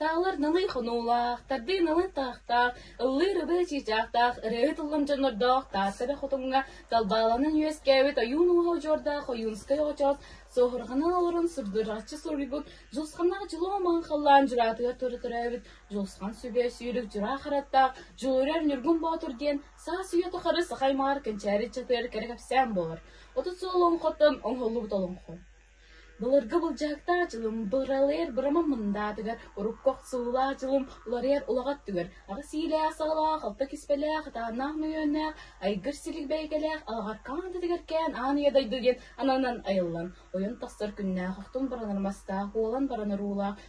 Таалар налый хонуулаах, тардыы налый таахтаах, ыллыы рыбы чыычаахтаах, өрөөһү тыллым дьоннордоох таас сэбэ хотуҥҥа талбааланан үөскээбит ойуун ууһа удьуордаах ойуунскай очоос соһурҕана олорон сурдураччы суруйбут дьулусханнаах дьулуомаҕын халлаан дьураатыгар тура төрөөбүт Дьулусхан сүбэ сүүрүк дьураахыраттаах Дьулурар Ньургун Боотур диэн саас үйэ-тухары сахаймаар кэнчээри чатыгар кэрэ кэпсээн буолар отут сыл олоҥхоттон оҥоһуллубут олоҥхо. Былыргы былдьаһыктаах дьылым быралыйар бырамам мындаатыгар урукку охсуулаах дьылым уларыйар улаҕа өттүгэр аҕыс иилээх саалаах алта киспэлээх ытааннаах мөйүөннээх айгыр силик бэйгэлээх алҕаркаан дэтигэр кээн аан ийэ дойду диэн ананан айыллан ойон тахсар күннээх охтун баранар мастаах уолан баранар уулаах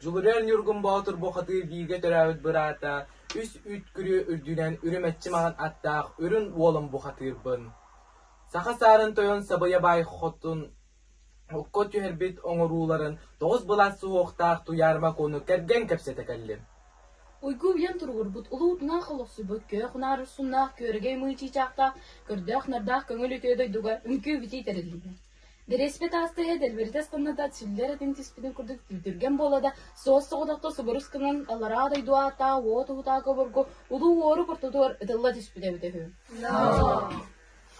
Дьулуруйар Ньургун Боотур бу хоту бииргэ төрөөбүт быраата, үс үт күрүө үрдүнэн үрүмэччи маҕан аттаах үрүн уолун бухатыырбын. Саха саарын тойон Сабыйа Баай хотун окко түһэрбит оҥорууларын тоҕус былаас суһуохтаах Туйаар Макону кэргэн кэпсэтэ кэллим. Уйгу уйан туругурбут улуу утунаах олохсуйбут күөх унаар урсуннаах күөрэгэй мыы чыычаахтаах көрдөөх нардаах көҥүл үтүө дойдуга үҥкүү битии тэриллибэ Бириэспит ааста иһэ дэлбирдэс гынна да чиллэр этин түспүтүн курдук түүтүргэн буола да суос-соҕотохто субурус гынан алараа дойду ааттаах уо туһутаак обургу улуу уору куртутугар ытылла түспүтэ эбитэ үһү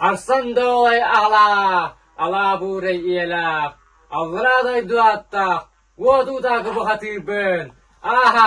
Арсан доолай аалаа алаа буурай иэлаах аллараа дойду ааттаах уо туутаакы бухатыырбын аха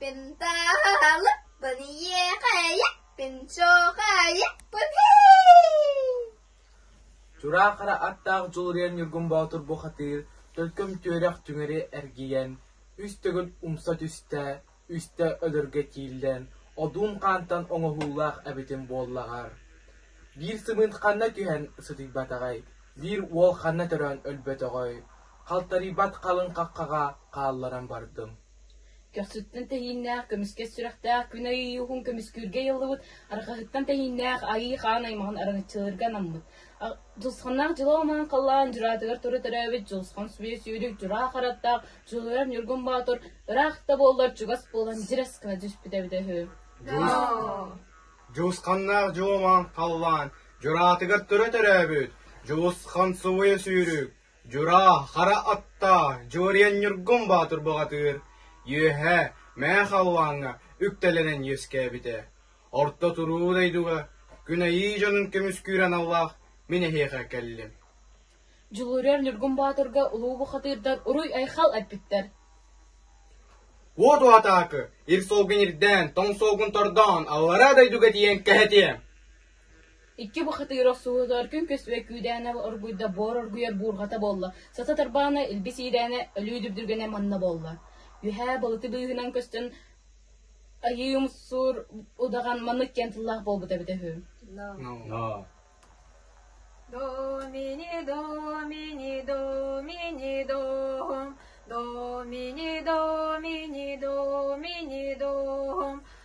Пентаалыппын иэхэйэппин чохайыппын Чураахара аттаах дьулуруйан Ньургун Боотур бухатыыр төлкөм түөрэх түҥэри эргийэн, үс төгүл умса түстэ, үстэ өлөргө тииллэн, одуун хаантан оҥоһуулаах эбитим буоллаҕар. Биир сымыыт ханна түһэн сытыйбатаҕай, биир уол ханна төрөөн өлбөтөҕөй, халтарыйбат халыҥ хаххаҕа хаалларан бардым. Көхсүттэн тэһииннээх, көмүскэс сүрэхтээх күн айыы уһун көмүскүүргэ ыйыллыбыт арҕаһыттан тэһииннээх айыы хаан аймаҕын араҥаччылыырга анаммыт. Дулусханнаах дьылаа омаан халлаан дьураатыгар туру төрөөбүт Дулусхан сүбэ сүөрүк дьураа хараттаах Дьулуйар Ньургун Боотур ыраах да буоллар чугас буолан дьирэскэ түспүтэ эбитэ үһү. Дулусханнаах дьуомаан халлаан дьураатыгар туру төрөөбүт Дулусхан субуйа сүүрүк Дьураа, хара аттаа, Дьуоруйанньургум боотур баҕатыыр, Үөһээ, Мээ Халлааҥҥа үктэлэнэн үөскээбитэ. Орто туруу дойдуга күн айыы дьонун көмүскүүр аналлаах мин эһиэхэ кэллим Дьулуруйар Ньургун Боотурга улуу бухатыырдар уруй-айхал эппиттэр Уот уотаакы, ир суолгун ирдээн, тоҥ суолгун тордоон, аллараа дойдуга тиийэн кэһэтиэм Икки Бухатыырап сууһутугар күҥкүс үө күүдээнэ оргуйда буор оргуйар буурҕата буолла, сата тарбаана илбис иирээнэ өлүү дүрдүргэнэ манна буолла. Үөһээ балыты быыһынан көстөн айыы умсуур удаҕан маннык диэн тыллаах буолбута эбитэ үһү ноо Домини домини домини дом домини домини домини дом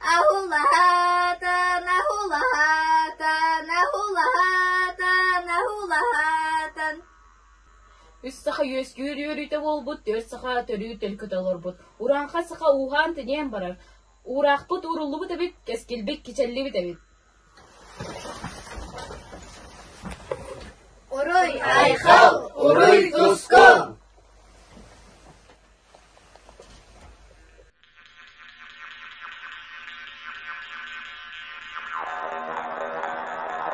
Аһулаһаатан, аһулаһаатан, аһулаһаатан, аһулаһаатан Үс саха үөскүүр үөрүүтэ буолбут, түөрт саха төрүү төлкүтэ олорбут. Урааҥха саха ууһаан тиниэн барар. Уураахпыт ууруллубут эбит, кэскилбит кичэллибит эбит Урай, айхал, уруй туску!